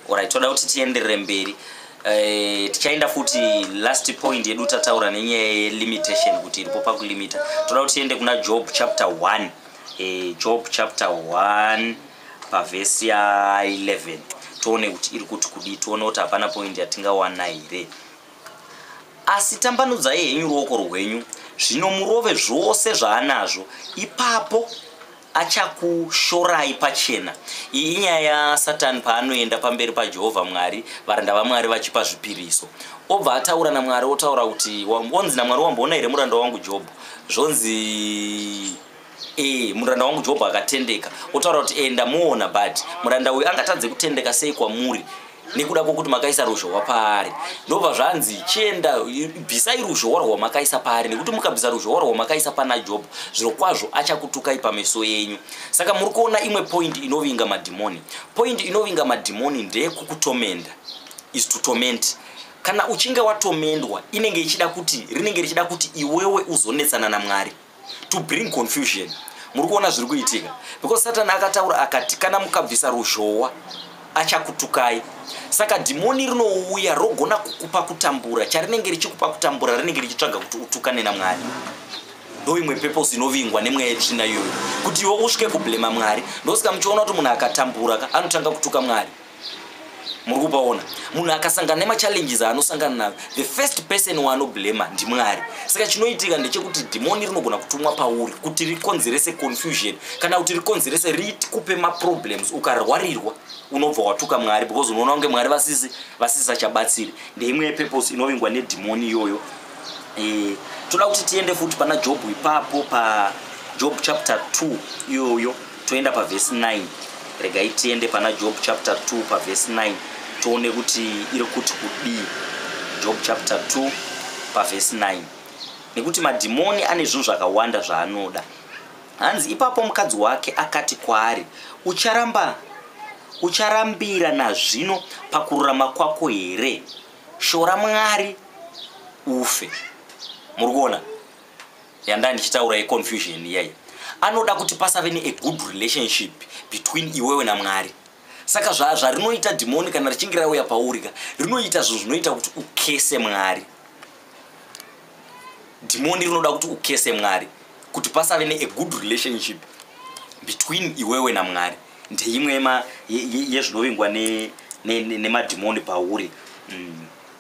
orit toda kuti tienderere mberi eh, tichaenda futi last point yedu tataura nenyaya yelimitation kuti iripo pakulimita toda kuti tiende kuna job chapter 1 eh, job chapter 1 pavhesi ya 11 tione kuti iri kuti kudii tione kuti hapana point yatingawana here asi tambanudzai henyu ruoko rwenyu zvino murove zvose zvaanazvo ipapo achakushorai pachena iyi inyaya yasatani paanoenda pamberi pajehovha mwari varanda vamwari vachipa zvipiriso obva ataura namwari otaura kuti onzi namwari wamboona here muranda wangu jobho zvonzi e muranda wangu jobho akatendeka otaura kuti enda muona but muranda uyu angatadze kutendeka sei kwamuri nekuda kwokuti makaisa ruzhowa paari ndobva zvanzi chienda bvisai ruzhowa rwamakaisa paari nekuti mukabvisa ruzhowa rwamakaisa pana job zviro kwazvo achakutukai pameso yenyu saka muri kuona imwe point inovinga madhimoni point inovinga madhimoni ndeyekukutomenda is to torment kana uchinge watomendwa inenge ichida kuti rinenge richida kuti iwewe uzonetsana namwari to bring confusion muri kuona zviri kuitika because satani akataura akati kana mukabvisa ruzhowa achakutukai saka dhimoni rinouya rogona kukupa kutambura charinenge richikupa kutambura rinenge richitsvaga kuti utukane namwari ndoimwe purpose inovingwa nemweya yetsvina iyoyo kuti iwe usvike kublema mwari ndosika muchiona kuti munhu akatambura anotanga kutuka mwari muri kupaona munhu akasangana nemachallenges aanosangana nayo the first person waanoblema ndimwari saka chinoitika ndechekuti dhimoni rinogona kutumwa pauri kuti rikonzerese confusion kana kuti rikonzerese rikupe maproblems ukarwarirwa unobva watuka mwari because unoona kunge mwari vasisi vasisachabatsiri ndeimwe yepurpose inovingwa nedhimoni iyoyo e, toda kuti tiende futi pana jobhu ipapo pajob chapter 2 iyoyo toenda pavhesi 9 regai tiende pana job chapter 2 pavhesi 9 tione kuti iri kuti kudii job chapter 2 pavhesi 9 nekuti madhimoni ane zvinhu zvakawanda zvaanoda hanzi ipapo mukadzi wake akati kwaari ucharamba ucharambira nazvino pakururama kwako here shora mwari ufe muri kuona yandanga ndichitaura yeconfusion iyai anoda kuti pasave ne a good relationship between iwewe namwari saka zvarinoita zva dhimoni kana richinge rauya pauri ka rinoita zvinhu zvinoita kuti ukese mwari dhimoni rinoda kuti ukese mwari kuti pasave ne a good relationship between iwewe namwari ndeimwe yezvinovingwa nemadhimoni pauri mm.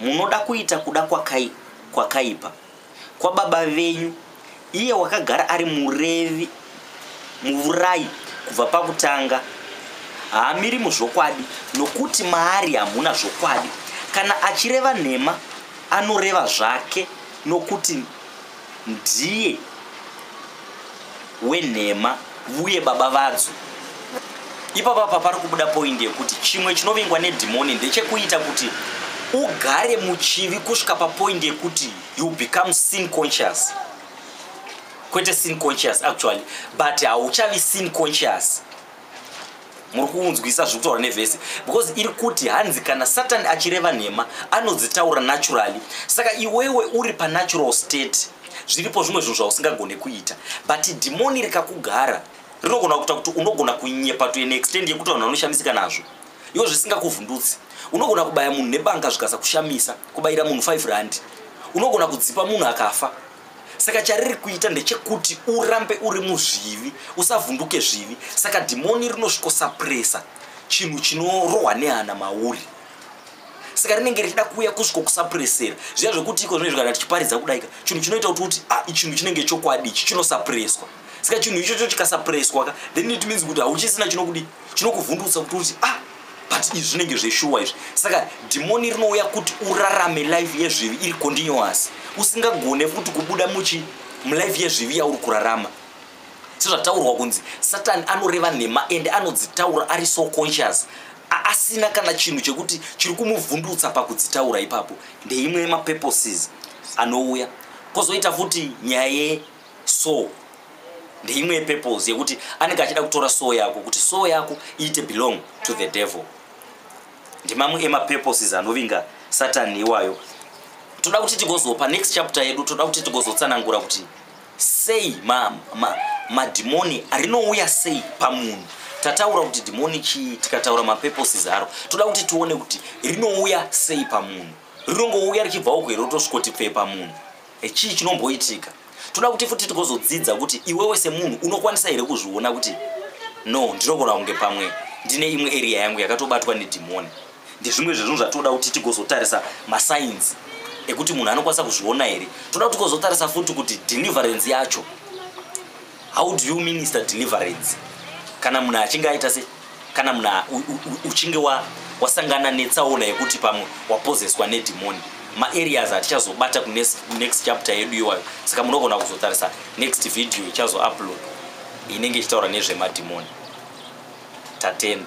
munoda kuita kuda kwakai, kwakaipa kwababa venyu iye wakagara ari murevi muvurayi kubva pakutanga haamiri muzvokwadi nokuti maari hamuna zvokwadi kana achireva nhema anoreva zvake nokuti ndiye wenhema uye baba vadzo ipapa apa pari kubuda poindi yekuti chimwe chinovengwa nedhimoni ndechekuita kuti ugare muchivi kusvika papoindi yekuti you become sin conscious kwete sin conscious actually but hauchavi sin conscious muri kuunzwisa zviri kutaura nevhesi because iri kuti hanzi kana satani achireva nhema anodzitaura naturally saka iwewe uri panatural state zviripo zvimwe zvinhu zvausingagone kuita but dhimoni rikakugara rinogona kuita kuti unogona kunyepa to an extend yekuti vanhu vanoshamisika nazvo iwo zvisingakuvhundutsi unogona kubaya munhu nebanga zvikasakushamisa kubayira munhu 5 randi unogona kudzipa munhu akafa saka chariri kuita ndechekuti urambe uri muzvivi usavhunduke zvivi saka dhimoni rinosvikosapresa chinhu chinorohwa nehana mauri saka rinenge richida kuuya kusviko kusapuresera zviya zvekuti iko zvine zvigara tichiparidza kudaika chinhu chinoita kuti kuti ah, chinhu chinenge chokwadi ichi chinosapureswa saka chinhu ichocho chikasapureswa ka then it means kuti hauchisina chinokudii chinokuvhundutsa kuti uti ah but izvi zvinenge zveshuwa izvi saka dhimoni rinouya kuti urarame life yezvivi iri continuous usingagone futi kubuda muchi mulife yezvivi yauri kurarama sezvataurwa kunzi satani anoreva nhema ende anodzitaura ari so conscious asina kana chinhu chekuti chiri kumuvhundutsa pakudzitaura ipapo ndeimwe yemapurposes anouya kozoita futi nyaya soul ndeimwe yepurpose yekuti anenge achida kutora soul yako kuti soul yako iite belong to the devil ndimamwe emapurposes anovinga satani iwayo toda kuti tigozopa next chapter yedu toda kuti tigozotsanangura kuti sei madhimoni ma, ma rinouya sei pamunhu tataura kuti dhimoni chii tikataura mapurposes aro toda kuti tione kuti rinouya sei pamunhu rinongouya richibva uko here rotosvikoti pfee pamunhu Eh, chii chinomboitika toda kuti futi tigozodzidza kuti iwewe semunhu unokwanisa here kuzviona kuti no ndinogona kunge pamwe ndine imwe area yangu yakatobatwa nedhimoni ndezvimwe zvezvinhu zvatoda kuti tigozotarisa masainzi ekuti munhu anokwanisa kuzviona here toda kuti tigozotarisa futi kuti deliverance yacho how do you minister deliverance kana munhu achinge aita se kana munhu uchinge wasangana netsaona yekuti pamwe wapozeswa nedhimoni maareas atichazobata kunext chapter yedu iwayo saka munogona kuzotarisa next video ichazoupload inenge ichitaura nezvemadhimoni tatenda